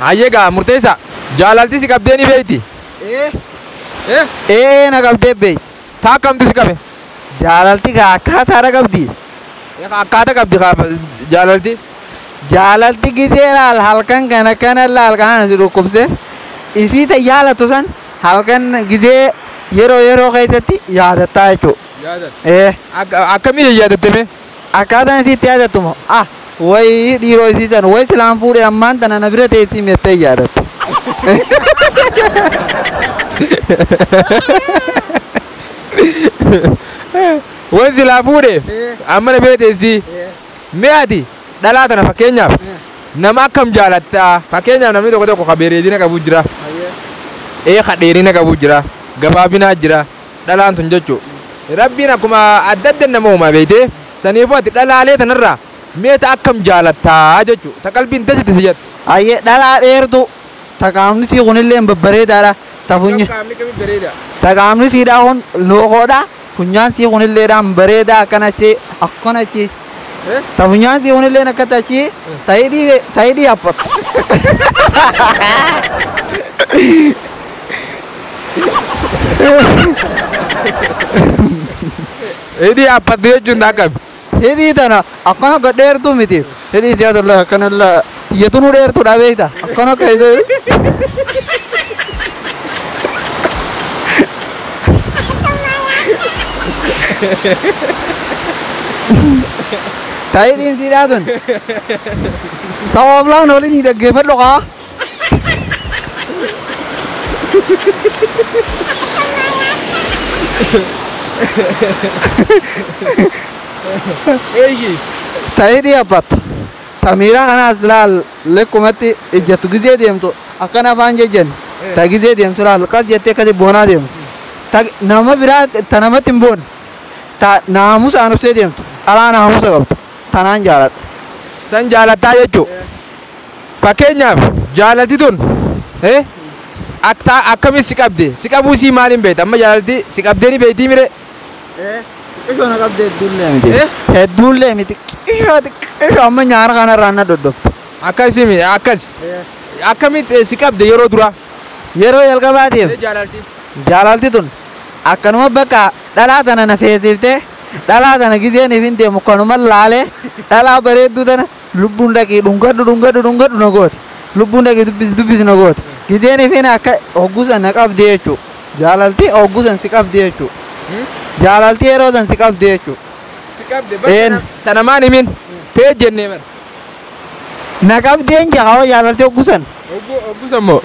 Hayyee gaa murteessaa. Jaalalti si qabdee ni beekti? Ee. Ee. Ee'ee na qabdee beekti. Taa akkamtu si qabe? Jaalalti gaa akkaataadha qabdi. Ee kaa akkaata qabdi kaa jaalalti. Jaalalti gisee laal halkan kan akkana laal kana si dhukkubse. Isii ta jaalattu san halkan gisee yeroo yeroo keessatti yaadattaa jechuudha. Yaadata. Ee. Akka- Akkamii yaadatte mee? Akkaataan isii itti yaadattu moo a wayi dhiiroo isii san wayi silaan fuudhe ammaan tana na bira teessii mettee yaadatte. Wayi silaa fuudhe amma na bira teessii mee ati dhalaa tana fakkeenyaaf nama akkam jaalatta fakkeenyaaf namni tokko tokko ka bereedina qabu jira ee ka dheerina qabu jira gabaabinaa jira dhalaan tun jechu rabbiin akkuma adda adda nama uumaa beeyte saniifuu ati dhalaalee tanarraa mee ta akkam jaalattaa jechu ta qalbiin dasitti si jettu Hayyee dhalaa dheertuu ta qaamni sii kunilleen babbareedaadha ta funyi qaamni kami bareeda ta qaamni siidhaa kun lookoodha funyaan sii kunilleedhaan bareedaa akkanatti akkanatti Ta funyaan sii hunilleen akkatti achii ta hidhii ta hidhii haphatu. Hidhii haphatu jechuun akkami? Hidhii tana akkana gadheertuu miti. Hidhii siyaasa illee akkana illee. Tiyya tunuu dheertuudha beekta. Akkana akka isa. Taa'ee dhiinsiidhaa tun. Sabaaf laan waliin ni dhaggeeffadhu kaa. Eeyyii. Taa'ee dhiyaabbata. Samiira kanaas laal lekkumatti ijjattu gizee deemtu akkana afaan jejjen ta gizee deemtu laal qas jettee akkati boonaa deemtu ta nama biraa ta namatti hin boonne ta naamusaan obsee deemtu dhalaa naamusa qabdu tanaan jaaladha. San jaalattaa jechuu. Fakkeenyaaf jaalalti tun aktaa akkami si qabde si qabuu isii maaliin beekta amma jaalalti si qabdee ni beektii miree. Xiqqishoo na qabdee hedduullee miti. Eh? Hedduullee miti. Xiqqishoo xiqqishoo amma nyaara kanarraa na doddofte. Akkasi mi akkas. Akkamitti eh, si qabde yeroo duraa? Yeroo jalqabaatiif Ee jaalalti. jaalalti tun akkanuma bakka dhalaa tana na feesiftee dhalaa tana gizeen ifin deemu kanuma laalee dhalaa bareedduu tana Lubbuun dhaqii dhungadhu dhungadhu dhungadhu na goote. Lubbuun dhaqii dubbisi dubbisi na goote. Gizeen ifin akka hogguu san na qabdi jechuu. Jaalalti hogguu san si qabdi jechuu. Jaalalti yeroo san si qabdi jechuu. Si qabde bar Een. tana- tana maan himin. Tee jennee bar. Na qabdi hin jaa hoo jaalalti hogguu san. Hogguu hogguu san moo.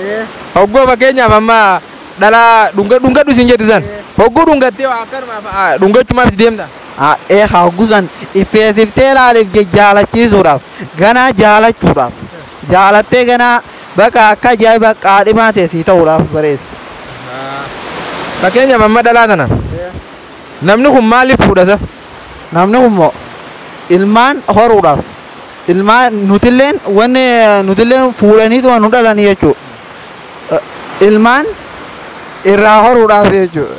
Hogguu fakkeenyaaf amma dhalaa dhunga dhungadhu siin jettu san. Hogguu dhungattee waa akkanumaaf ah, dhungachumaaf itti deemta. Haadhee haa gusan dhipheessiftee laaliif jajjaalachiisuudhaaf ganaa jaalachuudhaaf jaalattee ganaa baqa akka ajaa'iba qaadhimaa tee sii ta'uudhaaf bareessi. Fakkeenyaaf amma dhalaa tana namni kun maaliif fuudha sa? Namni kun moo ilmaan horuudhaaf ilmaan nutilleen wanni nutilleen fuudhaniituma nu dhalanii jechuudha. Ilmaan irraa horuudhaaf jechuudha.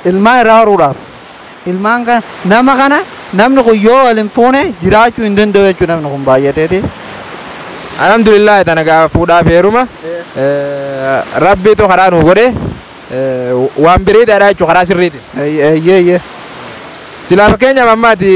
Ilmaan irraa horuudhaaf. Ilmaan kana nama kana namni kun yoo wal hin fuune jiraachuu hin danda'u jechuudha namni kun baay'ateeti. Alhamdulillah tana gaa fuudhaa fi heeruma rabbiitu karaa nuu godhe waan biriidhaadha jechuudha karaa sirriiti. Eeyyee eeyyee. Silaa fakkeenyaaf amma ati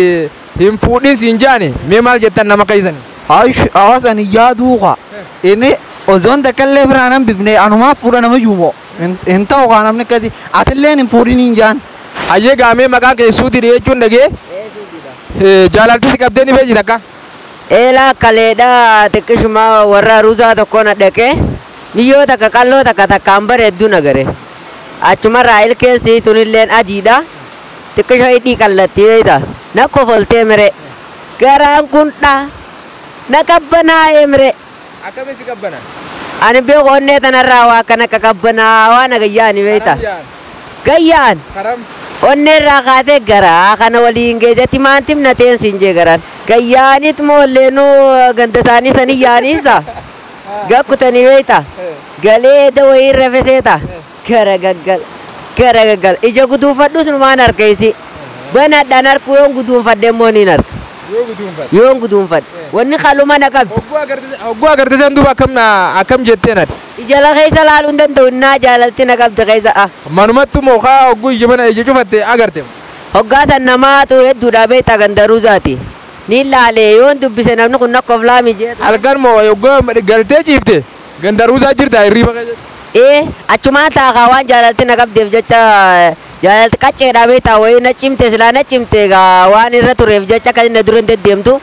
hin fuudhin siin jaani mee maal jettan nama keessani? Haayish hawaasani yaaduu kaa inni osoon takka illee biraa nan bifne anumaaf fuudha nama yuumoo. Hin, hin ta'u kaa namni akkati. Atilleen hin fuudhin hin jaan. Hayyee gaa mee maqaa kee suuti dhiyeechuun dhagee Ee suudidha. Eh, jaalalti si qabdee ni beekti takka? Eelaa kaleedha xiqqishuma warra ruzaa tokko na dhaqee miyyoo takka qalloo takka takkaan bareeddu na gare. Achumarraa ilkeen sii tunilleen adiidha. Xiqqisho hidhii qallatti beeyta. Na kofoltee mire. Garaan kun dha. Na qabbanaa'ee mire. Akkami si qabbana? Ani hin beeku onnee tanarraa waa kan akka qabbanaawaa na gayyaani beekta. Karam yaan. Gayyaan! Karam. Onneerraa kaatee garaa kana waliin geeja timaantim na teen siin jee garaan. Gayyaanit moo leenuu ganda isaanii sanii yaaniinsa. Gakkutanii beekta. Galee eda wayii irra feseeta. Garagagal garagagal ija guduunfadhus numaan arka isii banadhan arkuu yoon guduunfadhe immoo niin arka Yoo guduunfate. yoon guduunfadhe wanni kaluma na qabdi Hogguu agartise hogguu agartise san duuba akkam na akkam jetteen ati. ijala keessa laaluu hin danda'u innaa jaalalti na qabdi keessa ah Manumattu moo kaa hogguu ija bana ija cufatte agarte. hoggaa san namaatu hedduudha beektaa gandaruu isaati niin laalee yoon dubbise namni kun nakkof laamii jeetu. Halkan moo hogguu galtee ciifte. Ganda Ruuzaa jirtaa hirriiba keessatti? Ee, achumaan taa'a kaa waan jaalalti na qabdeef jecha jaalalti qacceedhaa beektaa wayii na cimte silaa na cimte egaa waan irra tureef jecha akkasiin na dura hin deddeemtu.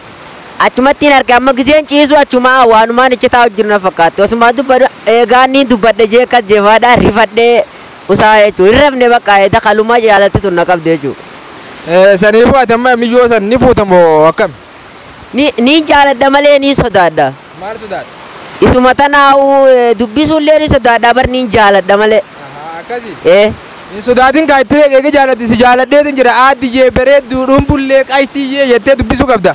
Achumattiin arge amma gizeen ciisu achumaa waanumaan ichi taa'u jiru na fakkaatti. Osumaa dubbadhu eegaan niin dubbadhe jee akkas jeefaadhaa rifadhee usaa jechuudha. Hin rafne bakka eeda kalumaa jaalalti tun na qabde jechuudha. Ee, saniifuu ati amma miyyoo san ni fuuta moo akkami? Ni, niin jaaladha malee niin sodaadha. Maal sodaatta? Isuma tanaa'u dubbisuullee ni sodaadha bar niin jaaladha malee. Ahaa akkasi? Ee. Hin sodaatin kaa itti eegi jaalatti si jaaladheetin jira Aaddiyyee bareedduu dhumbullee qashtiyyee jettee dubbisuu qabda.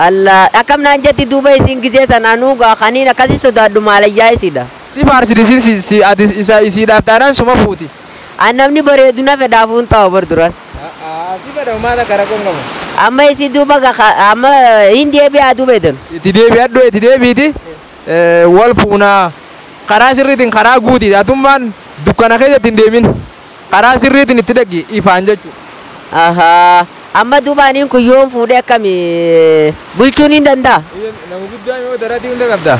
Allah akkam naan jetti duuba isiin gizee san anuu gaa kaniin akkasi sodaadhu maalayyaa isiidha. Si faarsiti isiin si si ati isa isiidhaaf taanaan suma fuuti. An namni bareedu na fedhaafuu hin taa'u bar duraan. Amma isi duuba ga ka- amma hin deebi'aa duuba edan. Itti deebi'adhu itti deebiiti wal fuunaa. Karaa sirriitiin karaa guuti. Atummaan dukkana keessatti hin deemin. Karaa sirriitiin itti dhaqi ifaan jechuudha. Ahaa. Amma duuba aniin kun yoon fuudhee akkami bulchuu niin danda'a? Nama guddaa yoo daratii hunda qabda.